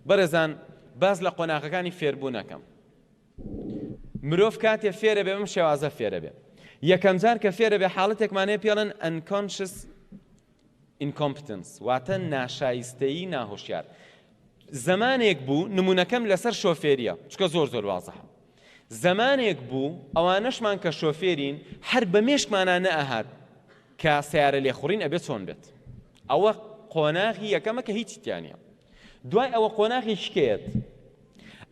بەڕێزان باس لە قۆناغەکانی فێربوون ئەکەم. مرۆڤ کاتێ فێرە بێ بەم شێوازە فێرە بێ. یەکەم جار کە فێرە بێ حاڵەتێکمانەیە پێڵن ئەنکۆنشس ئینکۆمپتنس واتە ناشایستەیی ناهۆشیار. زمانێک بوو نمونونەکەم لەسەر شۆفێریە چکە زۆر زۆر وازە. زەمانێک بوو ئەوانەشمان کە شۆفێرین هەر بە مێشکمانا نەئەهات کە سەیارە لێخوڕین ئەبێت چۆن بێت ئەوە قۆناغی یەکەمە کە هیچی تیانە دوای ئەوە قۆناغی شکێت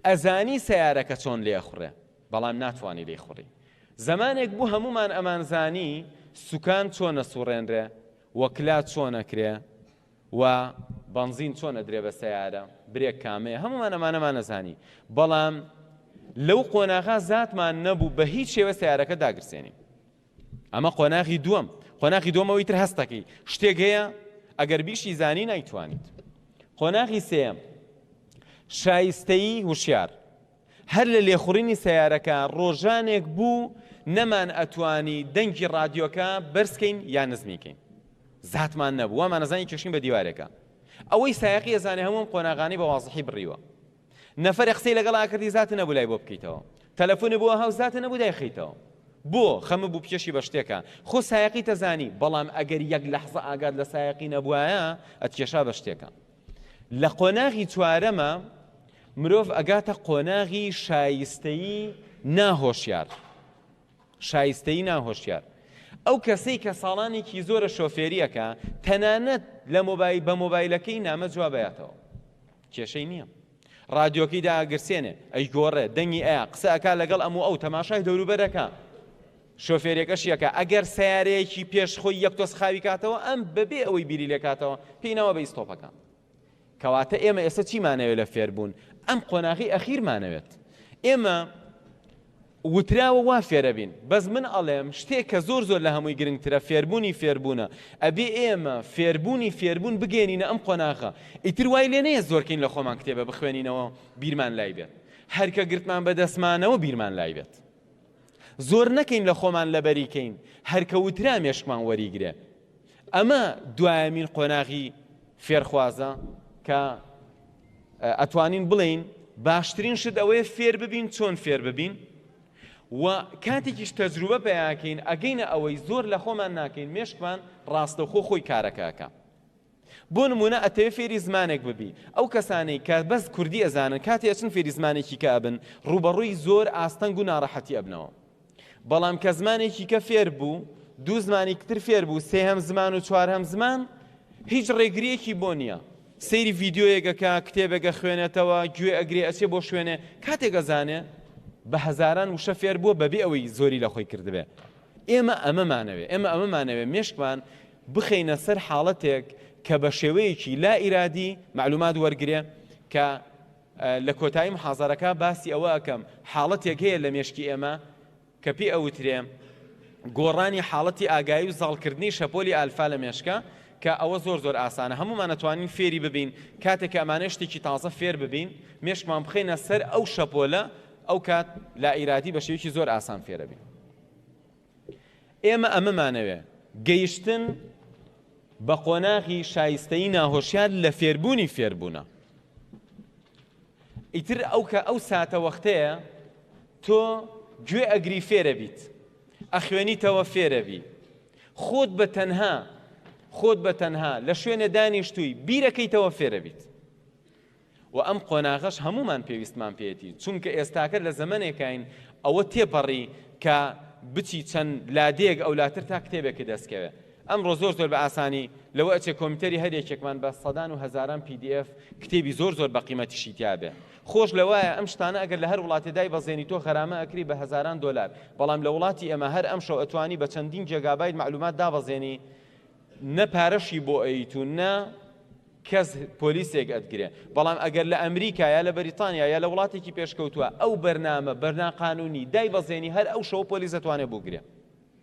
ئەزانی سەیارەکە چۆن لێخوڕێ بەڵام ناتوانانی لێخوڕی زەمانێک بوو هەمومان ئەمانزانی سوکان چۆنە سوڕێنرێ وەکلا چۆنەکرێ و بەنزین چۆن ئەدرێ بە سەیارە برێک کامەیە هەموومان ئەمانەمان ئەزانی بەڵام لەو قۆناغا زاتمان نەبوو بە هیچ شێوە سیارەکە داگرسێنین ئەمە قۆناغی دووەم قۆناغی دومەوەی تر هەستەکەی شتێک هەیە ئەگەر بیشی زانی نایتوانیت قۆناغی سێم شایستەی هوشیار هەر لە لێخوڕینی سەیارەکە ڕۆژانێک بوو نەمان ئەتوانی دەنگی ڕادیۆکە بەرزکەین یا نزمیکەین زاتمان نەبوو وامانەزانی کێشین بە دیوارێکە ئەوەی سایقی ئەزانێ هەمووم قۆناغانی بە وازحی بڕیوە نەفەر قسەی لەگەڵ ئاکردی زات نەبوو لای بۆ بکەیتەوە تەلەفۆنی بۆ هاو زات نەبوو دایخیتەوە بۆ خەمە بوو پێشی بە شتێکە خۆ سایقی تەزانی بەڵام ئەگەر یەک لەحزە ئاگات لە سایقی نەبووایە ئەتکێشا بە شتێکە لە قۆناغی چوارەمە مرۆڤ ئەگاتە قۆناغی شایستەیی ناهۆشیار شایستەیی ناهۆشیار ئەو کەسەی کە ساڵانێکی زۆرە شۆفێریەکە تەنانەت لە مۆبایل بە مۆبایلەکەی نامە جوابەتەوە کێشەی نییە ڕادیۆکەی داگرسێنێ ئەی گۆڕێ دەنگی ئەیە قسەکە لەگەڵ ئەم و ئەو تەماشای دەوروبەرەکە شۆفێرێکەش یەکە ئەگەر سەیارەیەکی پێش خۆی یەک تۆز خاوی کاتەوە ئەم بەبێ ئەوەی بیری لێکاتەوە پێی ناوە بە ئیستۆپەکە کەواتە ئێمە ئێستا چیمانەوێت لە فێربوون ئەم قۆناغی ئەخیرمانەوێت ئێمە وتراوە وا فێرەبین بەس من ئەڵێم شتێک کە زۆر زۆر لە هەمووی گرنگترە فێربوونی فێربوونە ئەبێ ئێمە فێربوونی فێربوون بگەێنینە ئەم قۆناغە ئیتر وای لێ نەیە زۆرکەین لە خۆمان کتێبە بخوێنینەوە بیرمان لای بێت هەرکە گرتمان بە دەستمانەوە بیرمان لای بێت زۆر نەکەین لە خۆمان لەبەری کەین هەر کە وترا مێشکمان وەریگرێ ئەمە دوایەمین قۆناغی فێرخوازە کە ئەتوانین بڵین باشترین شت ئەوەیە فێر ببین چۆن فێر ببین و کاتێکیش تەجروبە پیاکەین ئەگەینە ئەوەی زۆر لە خۆمان ناکەین مێشکمان ڕاستەخۆ خۆی کارەکەکە بۆ نموونە ئەتەوێ فێری زمانێک ببی ئەو کەسانەی کە بەس کوردی ئەزانن کاتێ ئەچن فێری زمانێکی کە ئەبن ڕووبەڕووی زۆر ئاستەنگ و ناڕەحەتی ئەبنەوە بەڵام کە زمانێکی کە فێر بوو دوو زمانی کتر فێر بوو سێهەم زمان و چوارهەم زمان هیچ ڕێگریەکی بۆ نییە سەیری ڤیددیویەکەکە کتێبێکە خوێنێتەوە گوێ ئەگرێ ئەچێ بۆ شوێنێ کاتێکە زانێ بە هەزاران وشە فێر بووە بەبێ ئەوەی زۆری لە خۆی کردبێ ئێمە ئەمەمانەوێ ئێمە ئەمەمانەوێ مێشکمان بخەینە سەر حاڵەتێک کە بە شێوەیەکی لا ئیرادی مەعلومات وەرگرێ کە لە کۆتایی محازەرەکە باسی ئەوە ئەکەم حاڵەتێک هەیە لە مێشکی ئێمە کە پێ ئەوترێ گۆڕانی حاڵەتی ئاگایی و زاڵکردنی شەپۆلی ئالفا لە مێشکە کە ئەوە زۆر زۆر ئاسانە هەمومان ئەتوانین فێری ببین کاتێک کە ئەمانە شتێکی تازە فێر ببین مێشکمان بخەینە سەر ئەو شەپۆلە ئەو کات لا ئیرادی بە شێوەیەکی زۆر ئاسان فێرەبین ئێمە ئەمەمانەوێ گەیشتن بە قۆناغی شایستەی ناهۆشیار لە فێربوونی فێربوونە ئیتر ئەو کە ئەو ساتە وەختەیە تۆ گوێ ئەگری فێرە بیت ئەخوێنیتەوە فێرە بی خۆت بە تەنها خۆت بە تەنها لە شوێنە دانیشتووی بیرەکەیتەوە فێرە بیت وە ئەم قۆناغەش هەموومان پێویستمان پێیەتی چونکە ئێستاکە لە زەمەنێکاین ئەوە تێپەڕی کە بچی چەند لادێیەک ئەولاتر تا کتێبێکت دەست کەوێ ئەمڕۆ زۆر زۆر بە ئاسانی لەوە ئەچێ کۆمیتەری هەر یەکێکمان بە سەدان و هەزاران پی دی ئێف کتێبی زۆر زۆر بە قیمەتیشی تیابێ خۆش لەوایە ئەم شتانە ئەگەر لە هەر وڵاتێ دایبەزێنی تۆ غەرامە ئەکری بە هەزاران دۆلار بەڵام لە وڵاتی ئێمە هەر ئەمشەو ئەتوانی بە چەندین جێگابایت مەعلومات دابەزێنی نە پارەشی بۆ ئەیت و نە کەس پۆلیسێک ئەتگرێ بەڵام ئەگەر لە ئەمریکا یا لە بەریتانیا یا لە وڵاتێکی پێشکەوتووە ئەو بەرنامە بەرنا قانونی دای بەزێنی هەر ئەو شەو پۆلیس دەتوانێت بگرێ